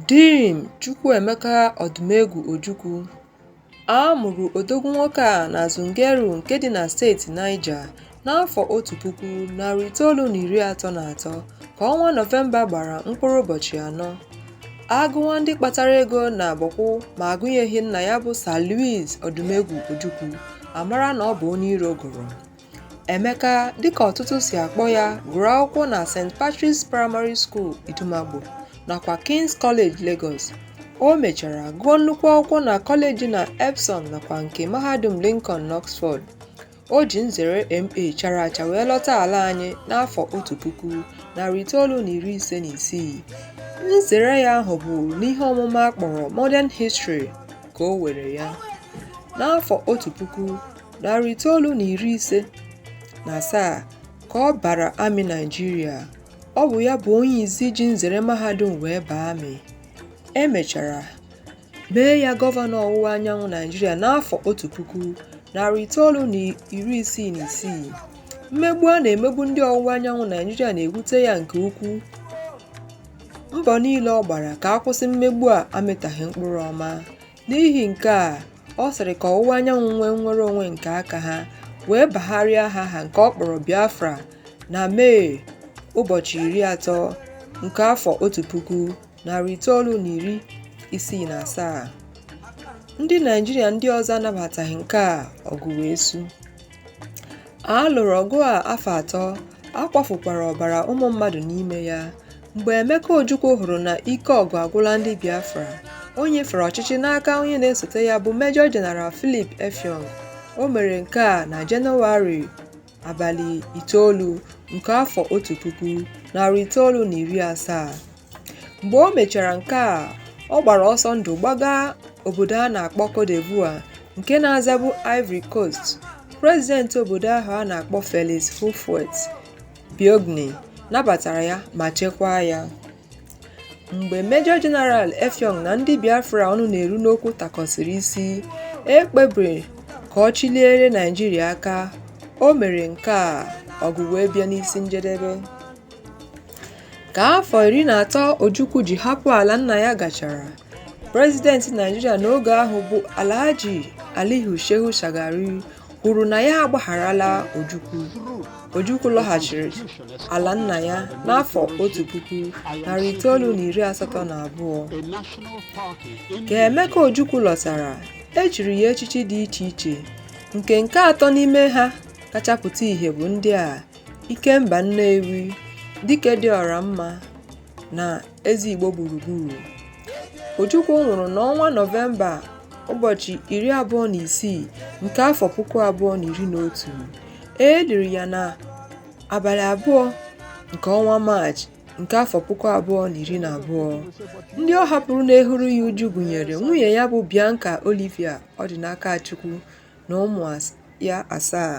Dim Chukwuemeka Odumegwu Ojukwu A mụrụ odogwu nwoke a na Zungeru nke dị na steeti Niger n'afọ otu puku, narị itoolu na iri atọ na atọ ka ọnwa Nọvemba gbara mkpụrụ ụbọchị anọ. A gụwa ndị kpatara ego na Bọkwụ ma agụnyeghị nna ya bụ Sir Louis Odumegwu Ojukwu, a mara na ọ bụ onye iro gụrụ. Emeka dịka ọtụtụ si akpọ ya gụrụ akwụkwọ na St. Patrick's Primary School Idumagbo nakwa King's College Lagos. O mechara gụọ nnukwu akwụkwọ na kọleji na Epsom nakwa nke Mahadum Lincoln n'Oxford. O ji nzere MA chara acha wee lọta ala anyị n'afọ otu puku, narị itoolu na iri ise na isii. Nzere ya ahụ bụ n'ihe ọmụma a kpọrọ Modern History ka o were ya. N'afọ otu puku, narị itoolu na iri ise na asaa ka ọ bara amị Naịjirịa. Ọ bụ ya bụ onye izi ji nzere mahadum wee baa amị. E mechara mee ya gọvanọ ọwụwa anyanwụ Naịjirịa n'afọ otu puku, narị itoolu na iri isii na isii. Mmegbu a na-emegbu ndị ọwụwa anyanwụ Naịjirịa na-ewute ya nke ukwuu. Mbọ niile ọ gbara ka a kwụsị mmegbu a amịtaghị mkpụrụ ọma. N'ihi nke a, ọ sịrị ka ọwụwa anyanwụ nwee nnwere onwe nke aka ha wee bagharịa aha ha nke ọ kpọrọ Biafra na Mee ụbọchị iri atọ nke afọ otu puku narị itoolu na iri isii na asaa. Ndị Naịjirịa ndị ọzọ anabataghị nke a ọgụ wee su. A lụrụ ọgụ a afọ atọ, a kwafukwara ọbara ụmụ mmadụ n'ime ya. Mgbe Emeka Ojukwu hụrụ na ike ọgụ agwụla ndị Biafra, o nyefere ọchịchị n'aka onye na-esote ya bụ Major General Philip Effiong. O mere nke a na Jenụwarị abalị itoolu nke afọ otu puku, narị itoolu na iri asaa. mgbe o mechara nke a ọ gbara ọsọ ndụ gbaga obodo a na-akpọ Cote d'Ivoire nke na-azabu Ivory Coast prezidenti obodo ahụ a na-akpọ Felix Houphouët Boigny nabatara ya ma chekwaa ya mgbe Major General Effiong na ndị Biafra ọnụ na-eru n'okwu takọsịrị isi e kpebiri ka ọ chịliere Naịjirịa aka o mere nke a ọgụ wee bịa n'isi njedebe Ka afọ iri na atọ Ojukwu ji hapụ ala nna ya gachara, prezidenti Naịjirịa n'oge ahụ bụ Alhaji Aliyu Shehu Shagari kwuru na ya agbagharala Ojukwu. Ojukwu lọghachiri ala nna ya n'afọ 1982. Ka Emeka Ojukwu lọtara, e chiri ya echichi dị iche iche nke nke atọ n'ime ha kacha pụta ihe bụ ndị a Ikemba Nnewi dike dị ọra mma na Eze Igbo gburugburu. Ojukwu nwụrụ n'ọnwa Nọvemba ụbọchị iri abụọ na isii nke afọ puku abụọ na iri na otu. E liri ya na abalị abụọ nke ọnwa Maachị nke afọ puku abụọ na iri na abụọ. Ndị ọ hapụrụ na-ehuru ya uju gụnyere nwunye ya bụ Bianca Olivia Ọdịnakachukwu na ụmụ ya asaa.